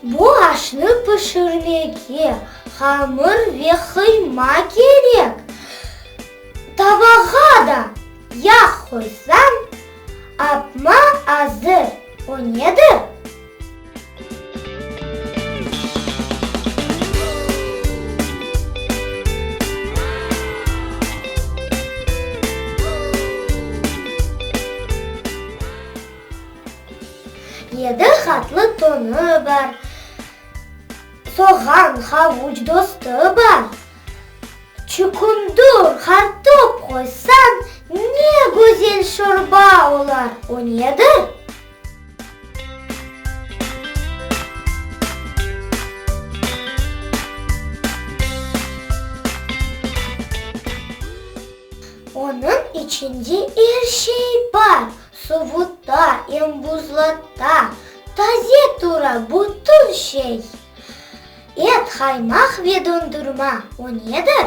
Bu aşnı pişirmege hamır ve qıyma kerek. Tavağa da yağ qoysañ, apma azır. O nedir? Yedi qatlı tonı bar. Soğan, havuç dostı bar. Çukundur, qartop qoysañ, ne gözel şorba olar. O nedir? Onıñ içinde er şey bar, Sovuta, em buzlata, Taze tura bütün şey. Et, qaymaq ve dondurma, O nedir?